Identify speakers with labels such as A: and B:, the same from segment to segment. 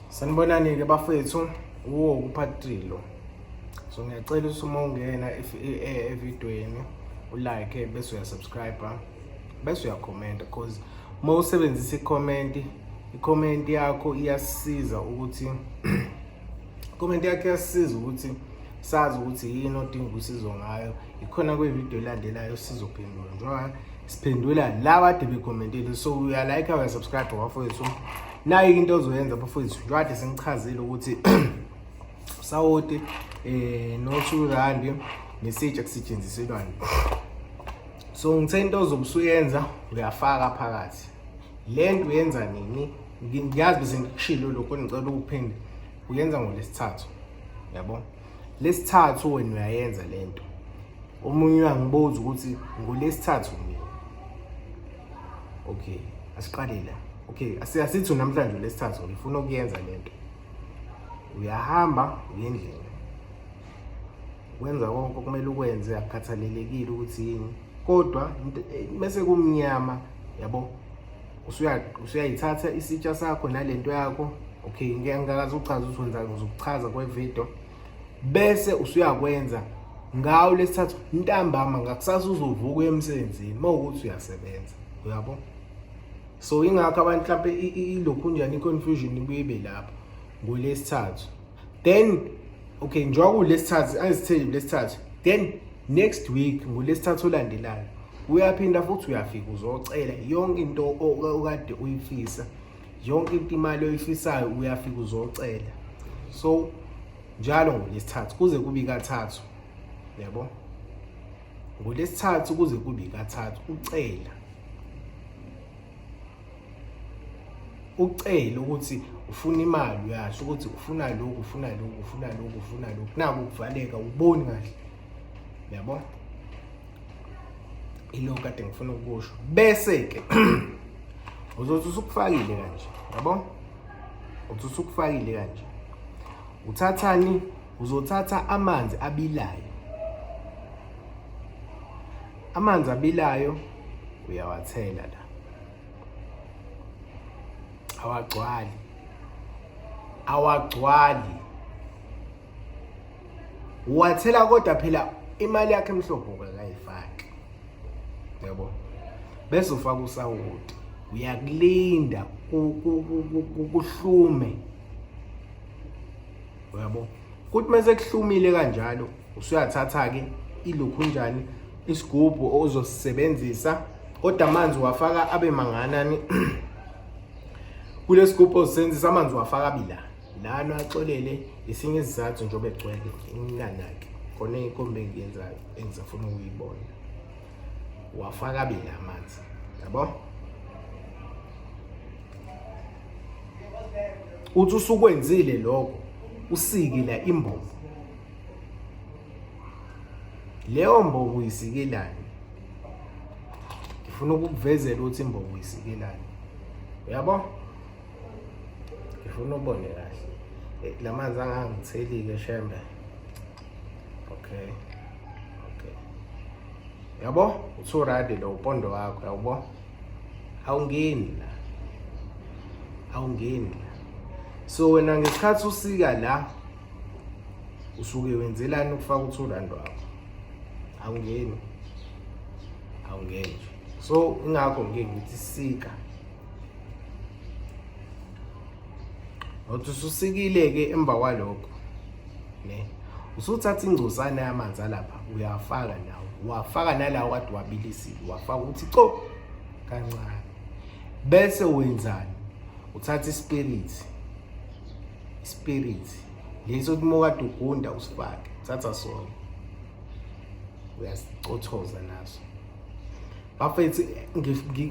A: Sanibonani-ke bafethu wo kuphatrilo so ngiyacela ukuthi uma ungena e, evidweni ulike bese uyasubscribe bese uyakhomenta because uma usebenzisa ikhomenti ikhomenti yakho iyasiza ukuthi ikhomenti yakho iyasiza ukuthi sazi ukuthi yini odinga usizo ngayo ikhona kwividiyo elandelayo sizophendula njengoba siphendula laba ade bekhomentile so uyalayikha uyasubscribe wafowethu nayo into ozoyenza bafowethu njwade sengichazile ukuthi usawoti eh no-two randi nesitsha kusetshenziselwani so ngithe into ozobe usuyenza uyafaka phakathi le nto uyenza nini ngiyazi bese ngikushilo lokho ngicela ukuphinde uyenza ngolesithathu yabo lesithathu wena uyayenza lento omunye uyangibuza ukuthi ngolesithathu mina okay asiqale la okay asithi namhlanje lesithathu ngifuna ukuyenza lento uyahamba uyendlela wenza konke okumele ukwenze akukhathalelekile ukuthi yini kodwa bese kumnyama yabo usuyayithatha isitsha sakho nalento yakho okay ngeke ngikazi uchaza ukuthi wenza ngizokuchaza kwevideo bese usuyakwenza ngawo lesithathu ntambama ngakusasa uzovuka emsebenzini mawukuthi uyasebenza uyabo so ingakho abantu mhlawumbe ilokhu njani i-confusion ibuye ibe lapho ngolesithathu then okay njengoba kulesithathu angizitheli kulesithathu then next week ngolesithathu olandelayo uyaphinda futhi uyafika uzocela yonke into okade uyifisa yonke into imali oyifisayo uyafika uzocela so njalo ngolesithathu kuze kube kathathu yabo ngolesithathu kuze kube kathathu ucela ucele ukuthi ufuna imali uyasho ukuthi ufuna lokhu ufuna lokhu ufuna lokhu ufuna lokhu naku kuvaleka uboni kahle yabo ilo kade ngifuna ukusho bese ke uzothi usukufakile kanje yabo uthi usukufakile kanje uthathani uzothatha amanzi abilayo Amanzi abilayo uyawathela la. Awagcwali. Awagcwali. Uwathela kodwa phela imali yakhe emhlopho kakayifaki. Yabo. Bese ufaka usawoti. Uyakulinda kuhlume. Uyabo? kuthi uma sekuhlumile kanjalo usuyathatha-ke ilukhunjani isigubhu ozosisebenzisa kodwa amanzi wafaka abe manganani kule sigubhu ozisebenzisa amanzi wafaka abila lana axolele esinye isizathu njengoba egcwele inganaki khona ikombe engiyenzayo engisafuna ukuyibona wafaka abili amanzi yabo uthi usukwenzile lokho usikila imbobo leyo mbobo uyisikilani ngifuna ukukuvezela ukuthi imbobo uyisikilani uyabo ngifuna ubone kahle eh, lamanzi angangitheli-ke shembe okay okay yabo usuradi lo upondo wakho yabo awungeni la awungeni la so wena ngesikhathi usika la usuke wenzelani ukufaka uthurandi wakho awungeni awungeni so ingakho ngike ngithi sika ngothi ususikile-ke emva kwalokho ne usuthatha ingcosana yamanzi alapha uyafaka nawo wafaka nalawo kade wabilisile wafaka ukuthi co kancane bese wenzani uthatha ispirit ispirit leso kumoka dugunda usifake thatha sona uyasicothoza naso bafethu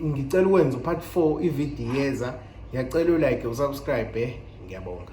A: ngicela ukwenza upart 4 ividiyo yeza ngiyacela ulike usubscribe eh? ngiyabonga